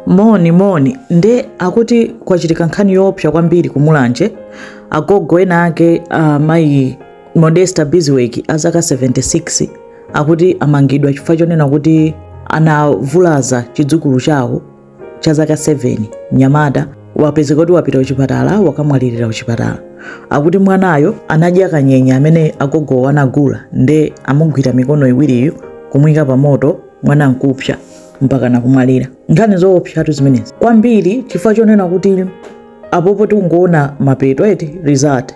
moni moni nde akuti kwachitika nkhani yoopsa kwambiri ku mulanje agogo ena ake a mayi modesta bizweki a zaka 76 akuti amangidwa chifukwa chonena kuti anavulaza chidzukulu chawo cha zaka 7 mnyamata wapezeka kuti wapita kuchipatala wakamwalirira kuchipatala akuti mwanayo anadya kanyenya amene agogowo anagula nde amugwira mikono iwiriyo kumuyika pa moto mwana nkupsa mpakana kumwalira nkhani zoopsatu zimenezi kwambiri chifukwa chonena kuti apopo tikungoona mapeto eti result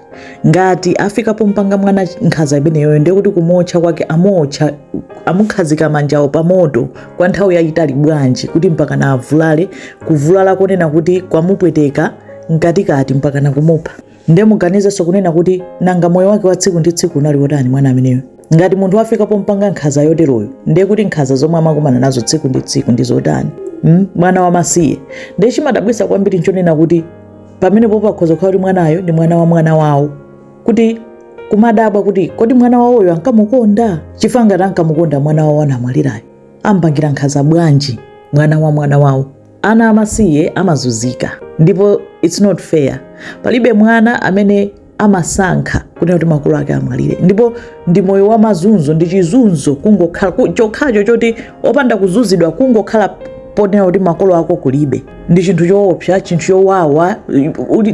ngati afika pompanga mwana nkhaza imeneyoyo ndiye kuti kumuotcha kwake amuotcha amukhazika manjawo pa moto kwa nthawi yayitali bwanji kuti mpakana avulale kuvulala konena kuti kwamupweteka mkatikati mpakana kumupha Nde muganizenso kunena kuti nanga moyo wake wa tsiku ndi tsiku unali wotani mwana ameneyo? Ngati munthu wafika pompanga nkhaza yoteroyo, ndiye kuti nkhaza zomwe amakumana nazo tsiku ndi tsiku ndi zotani? Mm, mwana wamasiye. Ndiye chimadabwitsa kwambiri nchonena kuti pamene popo akhoza kukhala kuti mwanayo ndi mwana wa mwana wawo kuti kumadabwa kuti kodi mwana wawoyo ankamukonda chifukwa ngati ankamukonda mwana wawo anamwalirayo ampangira nkhaza bwanji mwana wa mwana wawo ana amasiye amazunzika ndipo it's not fair palibe mwana amene amasankha kunena kuti makolo ake amwalire ndipo ndi moyo wa mazunzo ndi chizunzo kungokhala ku- chokhacho choti opanda kuzunzidwa kungokhala ponena kuti makolo ako kulibe ndi chinthu choopsa chinthu chowawa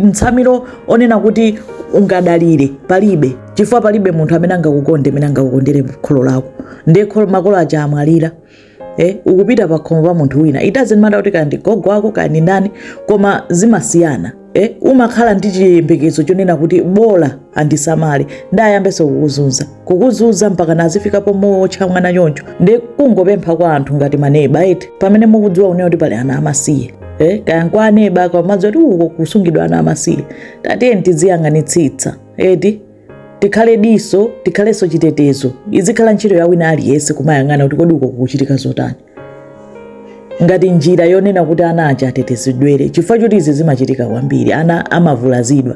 mtsamiro onena kuti ungadalire palibe chifukwa palibe munthu amene angakukonde mmene angakukondere kholo lako nde makolo aja amwalira eh, ukupita pakhomo pa munthu wina it doesn't matter kuti kaya ndi gogo wako kaya ndi ndani koma zimasiyana eh, umakhala ndi chiyembekezo chonena kuti bola andisamale nde ayambenso kukuzunza kukuzunza mpakana zifika pomuotcha mwana choncho ndi kungopempha kwa anthu ngati maneba eti pamene mukudziwa kunena kuti pali ana amasiye eh, kaya nkwa aneba mumadziwa kuti uko kusungidwa ana amasiye tatiyeni tiziyang'anitsitsa eti tikhale diso tikhalenso chitetezo izikhala ntchito ya wina aliyense kumayang'ana kuti kodi uko kukuchitika zotani ngati njira yonena kuti ana aja atetezedwere chifukwa choti izi zimachitika kwambiri ana amavulazidwa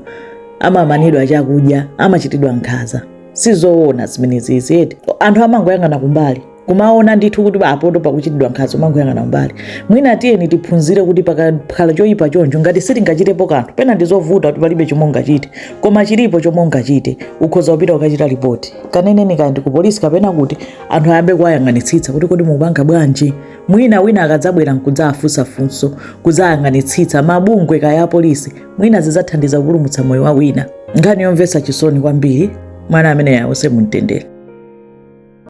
amamanidwa chakudya amachitidwa nkhaza sizoona zimenezi eti anthu amangoyang'ana kumbali kumaona ndithu kuti apoto pakuchitidwa nkhaza kumangoyang'ana kumbali mwina tiyeni tiphunzire kuti pakakhala choyipa choncho ngati sitingachitepo kanthu pena ndi zovuta kuti palibe chomwe ungachite koma chilipo chomwe ungachite ukhoza kupita kukachita ripoti kaneneni kaya ndi ku polisi kapena kuti anthu ayambe kuwayang'anitsitsa kuti kodi mukupanga bwanji mwina wina akadzabwera nkudzafunsa mafunso kudzayang'anitsitsa mabungwe kaya a polisi mwina zidzathandiza kupulumutsa moyo wa wina nkhani yomvetsa chisoni kwambiri mwana ameneyu awuse mumtendere